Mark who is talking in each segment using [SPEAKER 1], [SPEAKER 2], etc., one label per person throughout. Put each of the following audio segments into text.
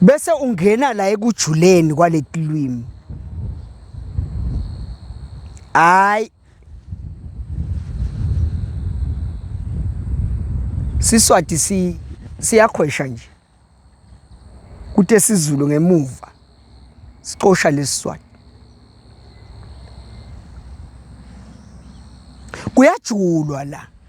[SPEAKER 1] bese ungena la ekujuleni kwaletilwimi hayi siswati si siyakhwesha nje kute sizulu ngemuva sicosha lesiswati kuyajulwa la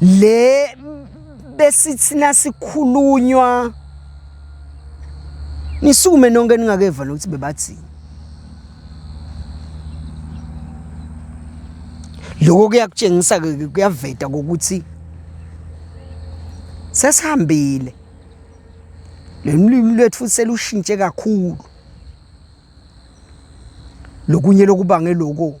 [SPEAKER 1] le besithi nasikhulunywa nisukume nonke ningakeva nokuthi bebathini lokho kuyakutshengisa ke kuyaveta ukuthi sesihambile lolimi lwethu selushintshe kakhulu lokunye lokubangela lokho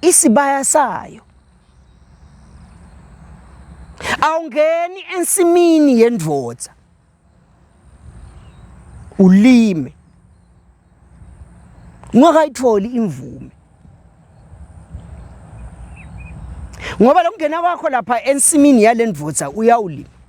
[SPEAKER 1] isibaya sayo awungeni ensimini yendvodza ulime ungakayitholi imvume ngoba lokungena kwakho lapha ensimini yalendvodza uyawulima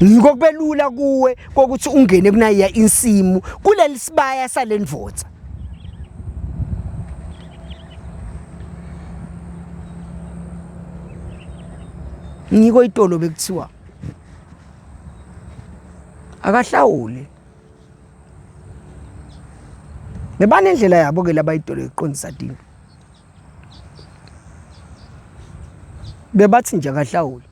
[SPEAKER 1] yiko kubelula kuwe kokuthi ungene kunayiya insimu kuleli sibaya salendvodza ngiko itolo bekuthiwa akahlawule bebanendlela yabo ke labayitolo iqondisa dini bebathi nje akahlawule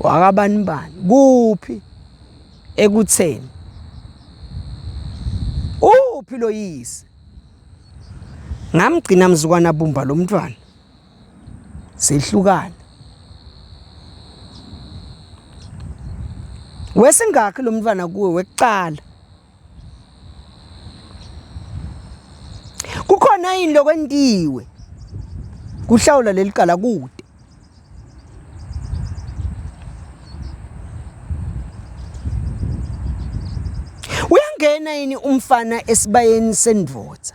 [SPEAKER 1] wakabani bani kuphi ekutheni uphi lo yise ngamgcina mzukwana bumba lo mntwana sehlukana wesingakhi lo mntwana kuwe wekuqala kukhona yini lokwentiwe kuhlawula leli cala kude uyangena yini umfana esibayeni sendvodza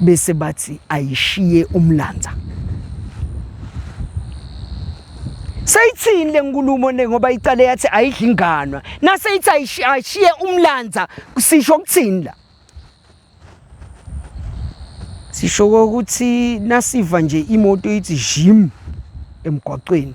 [SPEAKER 1] bese bathi ayishiye umlanza Seyithini lenkulumo ne ngoba icale yathi ayidli inganwa nase ithi ayishiye umlanza sisho ukuthini la Sisho ukuthi nasiva nje imoto ithi jim emgwaqweni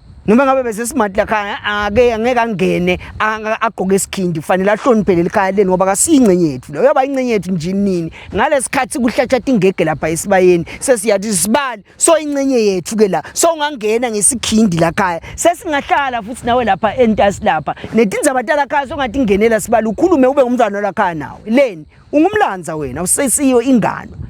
[SPEAKER 1] noma ngabe bese smart la khaya ake angeke angene agqoke isikhindi kufanele ahloniphe leli khaya leni ngoba kasiyingcenye yethu leyo yaba ingcenye yethu nje nini ngalesikhathi kuhlatshata ingege lapha esibayeni sesiyathi sibali so ingcenye yethu ke la so ungangena ngesikhindi la khaya sesingahlala futhi nawe lapha entasi lapha netindzaba tala khaya songathi ingenela sibali ukhulume ube ngumntwana la khaya nawe leni ungumlanza wena usesiyo ingano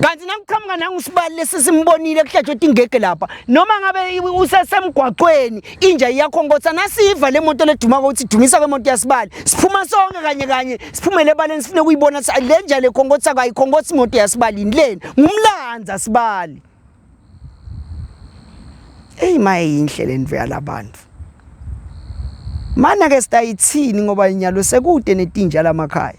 [SPEAKER 1] kanti nakuqhamuka nangusibali lesi simbonile kuhlatshwe tingege lapha noma ngabe usesemgwaqweni inja iyakho nkotha nasiyiva le moto ledumako ukuthi dumisa kwemoto yasibali siphuma sonke kanye kanye siphumele ebaleni sifune kuyibona ukuthi le nja le khonkotha kayikhonkothi imoto yasibalini leni ngumlanza sibali eyi maye yinhle le nto yalabantu mana-ke sitayithini ngoba inyalo sekude netinja lamakhaya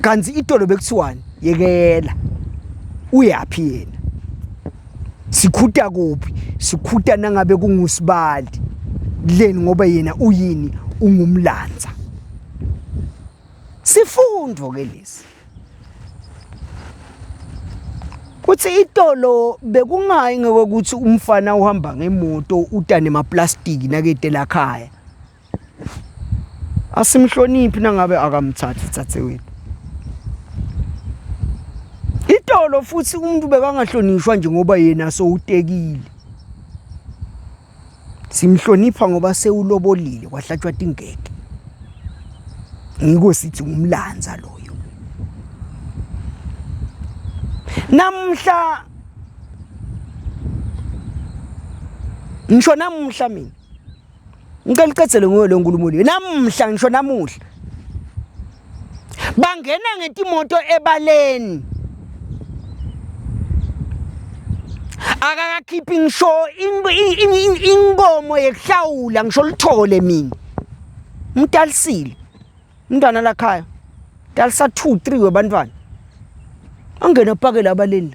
[SPEAKER 1] kanti itolo bekuthiwani yekela uyaphi yena sikhuta kuphi sikhuta nangabe kungusibali leni ngoba yena uyini ungumlanza sifundo ke lesi kuthi itolo bekungayi ngokuthi umfana uhamba ngemoto utane maplastiki nakete lakhaya asimhloniphi nangabe akamthathi thathe wethu itolo futhi umuntu bekangahlonishwa nje ngoba yena sowutekile simhlonipha ngoba sewulobolile kwahlatshwa tingeke ngiko sithi ngumlanza loyo namhla ngisho namuhla mina ngicela uqedele ngoyo le nkulumo le namuhla ngisho namuhla bangena ngetimoto ebaleni akakakhiphi ngisho inkomo yekuhlawula ngisho lithole mina umtalisile umntwana lakhaya talisa 2 3 webantwana angena pakela abaleni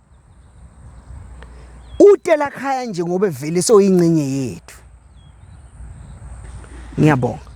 [SPEAKER 1] utelakhaya nje ngoba evele soyingcenye yethu ngiyabonga